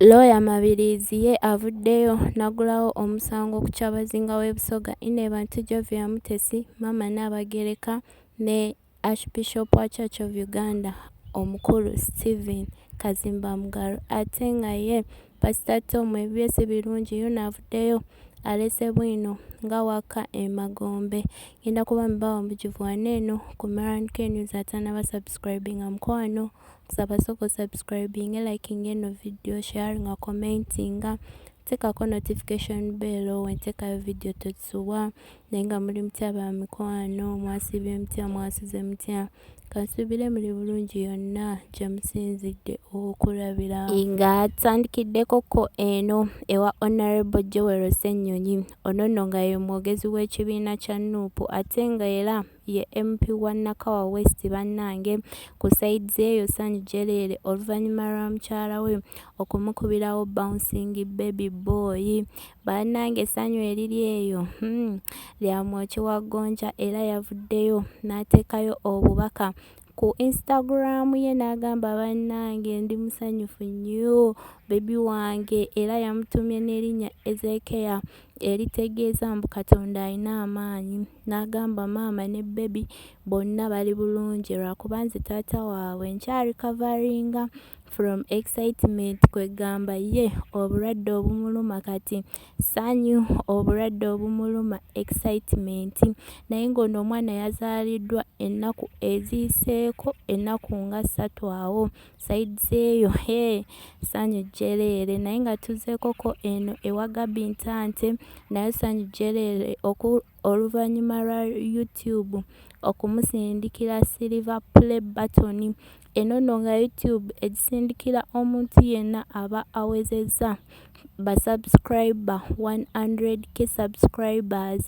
Looya Mabiriizi ye avuddeyo nagulawo omusango ku Kyabazinga w'e Busoga Inebantu Jovia Mutesi maama Nnaabagereka ne Archbishop wa Church of Uganda omukulu Stephen Kazimba Mugalu ate nga ye Pastor Tom ebibye si birungi yuno avuddeyo alese bwino nga wakka e Magombe. Ngenda kuba mbawa omujuvu wano eno ku Maran K News atanaba subscribinga mukwano kusaba soko subscribing liking eno video sharing a commenting tekako notification bell wentekayo video tokisubwa naye nga muli mutya ba mikwano mwasibye mutya mwasuze mutya kansubire muli bulungi yonna gyemusinzidde okulabira nga tandikiddeko ko eno ewa honorable joel senyonyi ono nno nga ye mwogezi w'ekibiina kya nuupu ate nga era ye MP wa Nakawa West bannange ku sides eyo Sanyu Jeleele oluvannyuma lwa mukyala we okumukubirawo bouncing baby boy bannange Sanyu eriri eyo hmm, lya mwoki wa gonja era yavuddeyo n'ateekayo obubaka ku Instagram ye n'agamba bannange ndi musanyufu nnyo bebi wange era yamutumye n'erinnya Ezeekeya eritegeeza mbu Katonda alina amaanyi n'agamba maama ne bebi bonna bali bulungi lwakuba nze taata waabwe nkyali kavaringa from excitement kwegamba ye obulwadde obumuluma kati sanyu obulwadde obumuluma excitement naye ng'ono omwana yazaaliddwa ennaku eziiseeko ennaku nga ssatu awo sides eyo he sanyu jjereere naye nga tuzeekoko eno ewa gabi ntante naye sanyu jjereere oluvannyuma lwa YouTube okumusindikira Silver Play Button eno nno nga YouTube egisindikira omuntu yenna aba awezezza ba subscriber 100k subscribers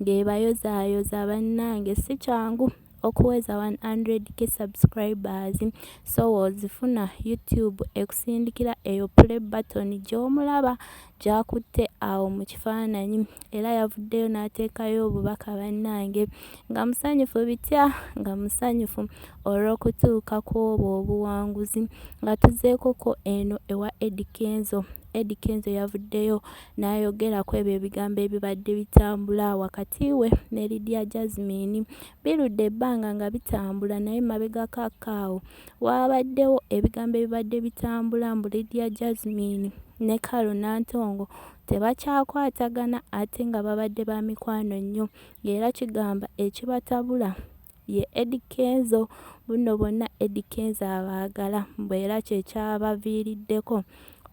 ng'ebayozaayoza bannange si kyangu. okuweza 100k subscribers so wozifuna youtube ekusindikira eyo play button gyomulaba gyakutte awo mu kifaananyi era yavuddeyo n'ateekayo obubaka bannange nga musanyufu bitya nga musanyufu olw'okutuuka kw'obwo obuwanguzi nga tuzeekoko eno ewa edikenzo Eddy Kenzo yavuddeyo n'ayogera ku ebyo ebigambo ebibadde bitambula wakati we ne Lydia Jazmine. Birudde ebbanga nga bitambula naye mabegako akaawo waabaddewo ebigambo ebibadde bitambula mbu Lydia Jazmine ne Carol Nantongo tebakyakwatagana ate nga babadde ba mikwano nnyo ng'era kigamba ekibatabula ye Eddy Kenzo bunno bonna Eddy Kenzo abaagala mbu era kye kyabaviiriddeko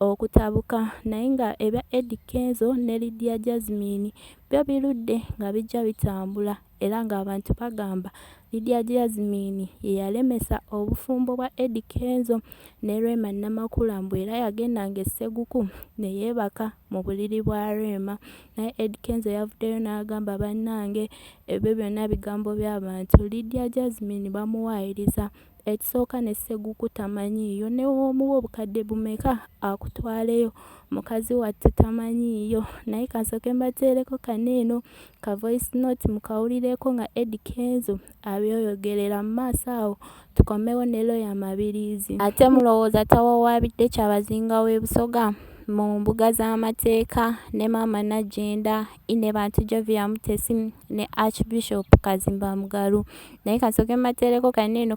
okutabuka naye nga ebya Eddy Kenzo ne Lydia Jazmine byo birudde nga bijja bitambula era ng'abantu bagamba Lydia Jazmine ye yalemesa obufumbo bwa Eddy Kenzo ne Rema Namakula mbu era yagenda ng'esseguku ne yeebaka mu buliri bwa Rema naye Eddy Kenzo yavuddeyo n'agamba bannange ebyo byonna bigambo bya bantu Lydia Jazmine bamuwaayiriza ekisooka ne Sseguku tamanyiiyo ne w'omuwa obukadde bumeka akutwaleyo mukazi wattu tamanyiiyo naye kasooke mbateereko kano eno ka voice note mukawulireeko nga Eddy Kenzo abyoyogerera mu maaso awo tukomewo ne looya Mabiriizi. Ate mulowooza tawawaabidde Kyabazinga w'e Busoga mu mbuga z'amateeka ne Maama Nagginda I ne Bantu Jovia Mutesi ne Archbishop Kazimba Mugalu. Naye kasooke mbateereko kano eno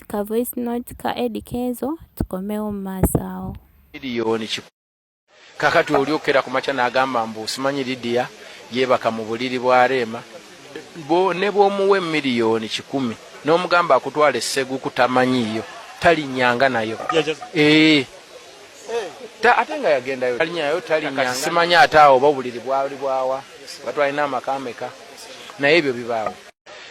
ka voice note ka Eddy Kenzo tukomewo mu maaso awo. Gideon Kikuubo Kakati oli okera ku makya n'agamba mbu simanyi Lidiya yeebaka mu buliri bwa Reema, ne bw'omuwa emiliyoni kikumi n'omugamba akutwale Sseguku tamanyiiyo talinnyanga nayo. Eeh ate nga yagendayo talinyayo talinyanga simanyi ate awo oba obuliri bwali bwawa batwalina amaka ameka naye ebyo bibaawo.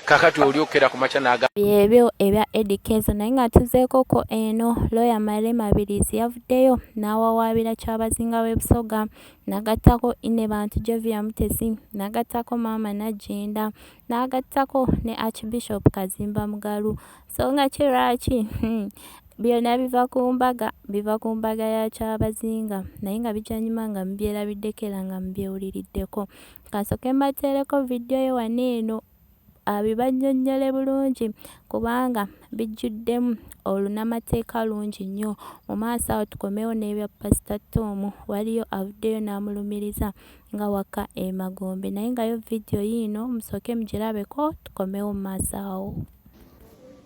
kakati oli okukera ku makya naga byebyo ebya Eddie Kenzo naye nga tuzeekoko eno looya Male Mabirizi yavuddeyo n'awawaabira Kyabazinga w'e Busoga n'agattako Ine Bantu Jovia Mutesi n'agattako Maama Nagginda n'agattako ne Archbishop Kazimba Mugalu so nga ki lwaki hmm. byonna biva ku mbaga biva ku mbaga ya kyabazinga naye nga bijanyuma nga mubyerabiddeko era nga mubyewuliriddeko Kasoke mbateereko vidiyo ye wano eno abibannyonnyole bulungi kubanga bijjuddemu olunamateeka lungi nnyo mu maaso awo tukomewo n'ebya pasita toomu waliyo avuddeyo n'amulumiriza nga wakka emagombe naye ngayo vidiyo yiino musooke mugirabeko tukomewo mu maaso awo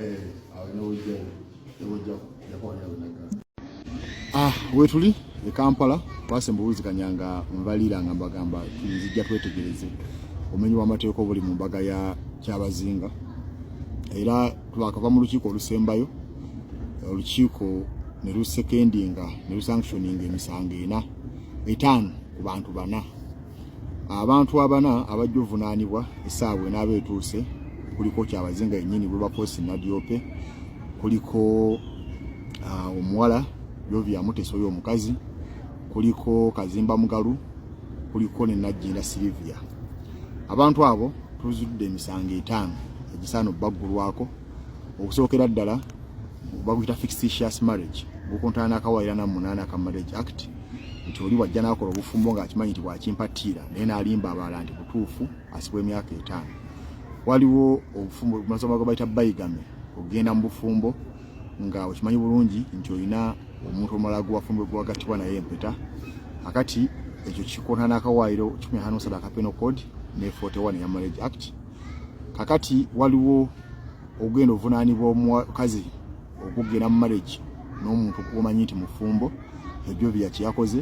Eh, ah, wetuli e Kampala twasembulizikanya nga nvalira nga mbagamba nzija twetegereze omenyi w'amateeka obuli mu mbaga ya Kyabazinga era twakava mu lukiiko olusembayo olukiiko ne lusekendinga ne lusanctioninga emisango ena etaano ku bantu bana abantu abana abajja ovunaanibwa esaawa enaaba etuuse kuliko kyabazinga yennyini bwebakosi nadiope kuliko uh, omuwala yovia muteso oyo omukazi kuliko kazimba mugalu kuliko ne najjinda silivia abantu abo tuzudde emisango etaano egisaana obbaggulwako okusookera ddala baguyita fictitious marriage gukontana n'akawaayira na munaana ka marriage act nti oli wajja n'akola obufumbo ng'akimanyi nti bwakimpatiira naye n'alimba abalala nti butuufu asibwa emyaka etaano waliwo obufumbo masoma gwe bayita bayigame okugenda mu bufumbo nga okimanyi bulungi nti olina omuntu omulala gwewafumbo gwewagattibwa naye empeta akati ekyo kikontana n'akawaayiro kikumi hano sadaka penal code ne 41 ya marriage act kakati waliwo ogenda ovunaanibwa omukazi okugenda mu marriage n'omuntu omanyi nti mufumbo ebyo bya kyakoze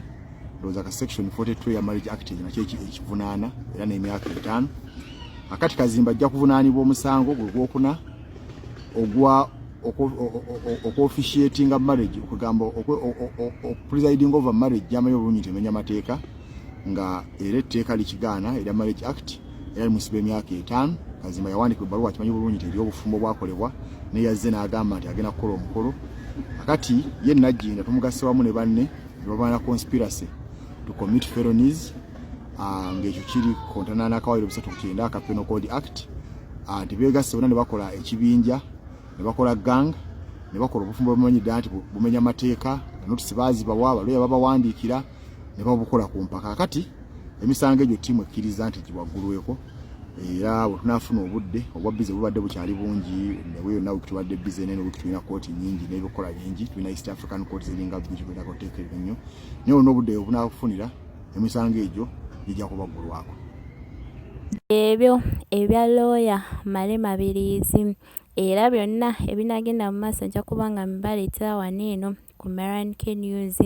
ndowooza ka section 42 ya marriage act ekyo nakyo ekivunaana era n'emyaka etaano akati kazimba ajja kuvunaanibwa omusango gwe gwokuna ogwa okuofficiatinga marriage okugamba okupresiding over marriage gyamayo obulungi temenya mateeka nga era etteeka likigaana erya marriage act era limusiba emyaka etaano kazimba yawandika ebbaluwa akimanyi bulungi nti eri obufumbo bwakolebwa naye yazze n'agamba nti agenda kukola omukolo akati ye najjinda tumugasse wamu ne banne ne babana conspiracy to commit felonies ah, ng'ekyo kiri kontana n'akawaliro bisatu ku kyenda aka penal code act ah, nti beegasse bona ne bakola ekibinja ne bakola gang ne bakola obufumbo bamanyi ddala nti bumenya mateeka notisi baazibawa balooya babawandiikira ne babukola ku mpaka kati emisango egyo ttiimu ekkiriza nti giwaggulweko era bwe tunaafuna obudde obwa bize bubadde bukyali bungi nawe yonna wiiki tubadde bize naye wiiki tulina kooti nyingi n'ebikola bingi tulina east african court ziringa bbi tulina koteeka ebyo nnyo naye olina obudde obunaakufunira emisango egyo gijja kubaggulwako ebyo ebya looya male mabiriizi era byonna ebinagenda mu maaso nja kuba nga mbibaleetera wano eno ku Maran K News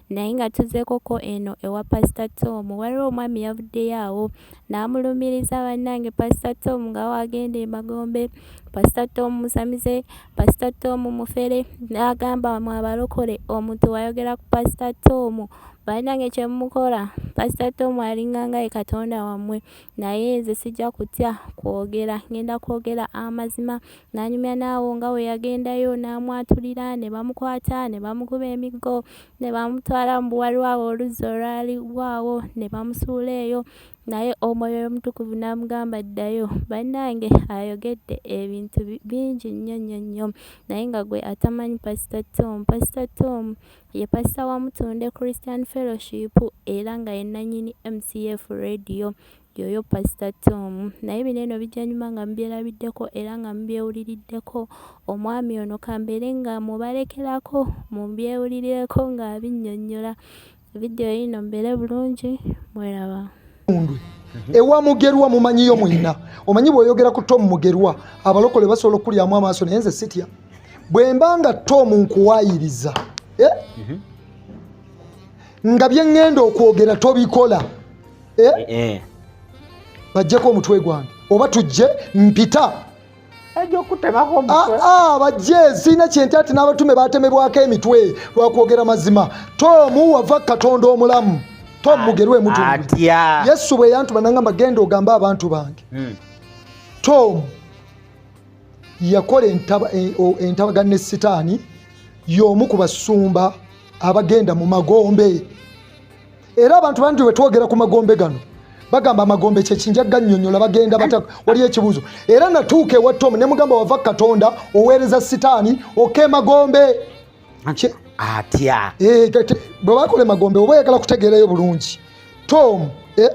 naye nga tuzeekoko eno ewa Pastor Tom waliwo omwami yavuddeyo awo n'amulumiriza bannange Pastor Tom nga wagenda emagombe Pastor Tom musamize Pastor Tom mufere n'agamba mu abalokole omuntu wayogera ku Pastor Tom bannange kye mukola Pastor Tom alinganga ye Katonda wammwe naye nze sijja kutya kwogera ngenda kwogera amazima N'anyumya n'awo nga bwe yagendayo n'amwatulira, ne bamukwata, ne bamukuba emiggo, ne bamutwala mu buwali bwabwe oluzzi olwali lwawo, ne bamusuula eyo. Naye Omwoyo Omutukuvu n'amugamba, Ddayo. Bannange, ayogedde ebintu bingi nnyo, nnyo, nnyo, naye nga gwe atamanyi Pasita Tom. Pasita Tom ye pasita wa Mutunde Christian Fellowship, era nga ye nnannyini MCF Radio. Yoyo Pastor Tom. Naye bino eno bijja nyuma nga mubyerabiddeko era nga mubyewuliriddeko. Omwami ono kambeere nga mubalekerako mubyewulirireko ng'abinnyonnyola. Vidiyo yino mbeere bulungi mweraba. Mundwe. Ewa mugerwa mumanyiyo mwenna. Omanyi bw'oyogera ku Tom Mugerwa abalokole basobola okulyamu amaaso naye nze sitya. Bwe mba nga Tom nkuwaayiriza eh? mhm. nga bye ŋŋenda okwogera tobikola. eh? Eh, eh. bajjeko omutwe gwange oba tujje mpita ah, ah, bajje sirina kyenti ati n'abatume batemebwako emitwe lwakwogera mazima tomu wava katonda omulamu tom mugerwe mutu yesu bwe yantuma nangamba genda ogambe abantu bange hmm. tom yakola entabaga ne sitaani y'omu ku basumba abagenda mu magombe era abantu bangi wetwogera ku magombe gano bagamba amagombe kyekinja ganyonyola bagenda bata waliyo ekibuuzo era natuuka ewa tom ne mugamba wava katonda oweereza sitaani oka emagombe atya eh, bwe bakola emagombe oba oyagala kutegeerayo bulungi tom eh,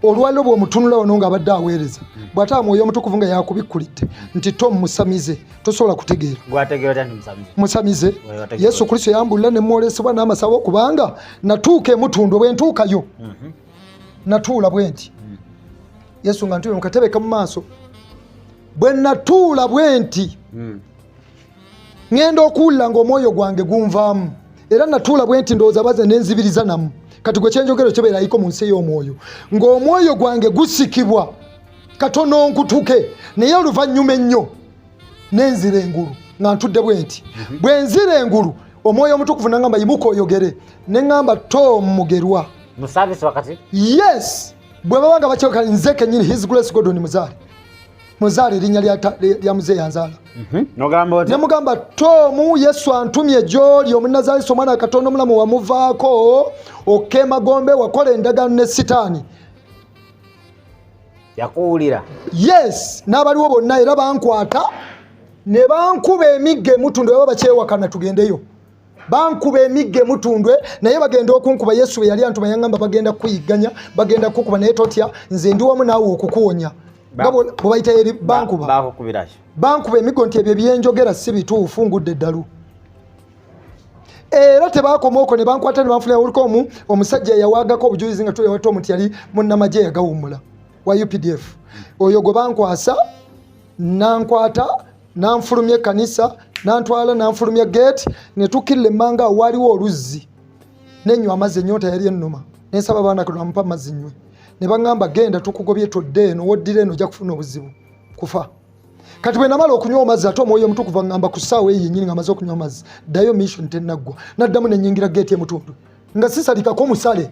olwaliro bwomutunula wano nga abadde aweereza bwataba mwoyo omutukuvu nga yakubikkulidde nti tom musamize tosobola kutegeera musamize yesu kristo yambulira nemwolesebwa n'amasabo kubanga natuuka emutundwe bwentuukayo mhm. natuula bwenti mhm. yesu nga ntuula mukatebeka mu maaso bwe natuula bwenti mhm. ŋŋenda okuwulira ng'omwoyo gwange gunvaamu era natuula bwe nti ndowooza baze nenzibiriza namu kati gwe kyenjogero kibeerayiko mu nsi ey'omwoyo ng'omwoyo gwange gusikibwa katono nkutuke naye oluvannyuma ennyo nenzira engulu nga ntudde bwe nti mhm. bwe nzira engulu omwoyo omutukuvu nangamba yimuka oyogere ne ŋŋamba tom mugerwa yes bwe baba nga bakyokala nze kenyini his grace godoni muzaale muzaala erinnya lya muzeeyi anzaala mhm. ne mugamba tomu yesu antumye gyoli omunazaalisa omwana wa katonda omulamu wamuvaako okemagombe wakola endagaano ne sitaani yakuwulira yes n'abaliwo bonna era bankwata ne bankuba emigga emutunda baba bakyewakana tugendeyo bankuba emigga emutundwe naye bagenda okunkuba yesu bwe yali antuma yaŋamba bagenda kukuyigganya bagenda kukukuba naye totya nze ndi wamu naawe okukuwonya bwebayita eri bankuba bankuba emiggo nti ebyo byenjogera si bituufu ngudde eddalu era tebakoma oko nebankwata nebanfunaoliko omu omusajja yawagako obujulizi nga tuyawata omu nti yali munnamagye yagawummula wa updf oyo gwe bankwasa nankwata nanfulumya ekkanisa nantwala nanfulumya geeti ne tukirira emmanga awo waaliwo oluzzi nenywa amazzi ennyonta yali ennuma nensaba abaana kano amupa amazzi nywe ne baŋŋamba genda tukugobye todde eno woddira eno ojja kufuna obuzibu kufa kati bwe namala okunywa amazzi ate omwoyo omutukuvu aŋŋamba ku ssaawa eyo yennyini nga amaze okunywa amazzi ddayo mission tennaggwa naddamu nenyingira geeti emutundu nga sisalikako musale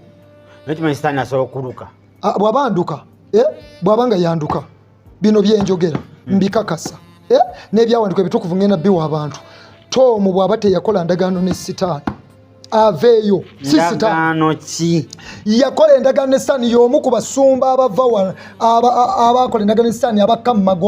bwaba nduka eh, bwaba nga yanduka bino byenjogera hmm. mbikakasa eh? n'ebyawandikwa ebitukuvu ngenda biwa abantu toomu bw'aba teyakola ndagaano ne sitaani aveeyo sisitaano ki yakola endagaano ne sitaani y'omu ku basumba abava abakola endagaano ne sitaani abakka mu mago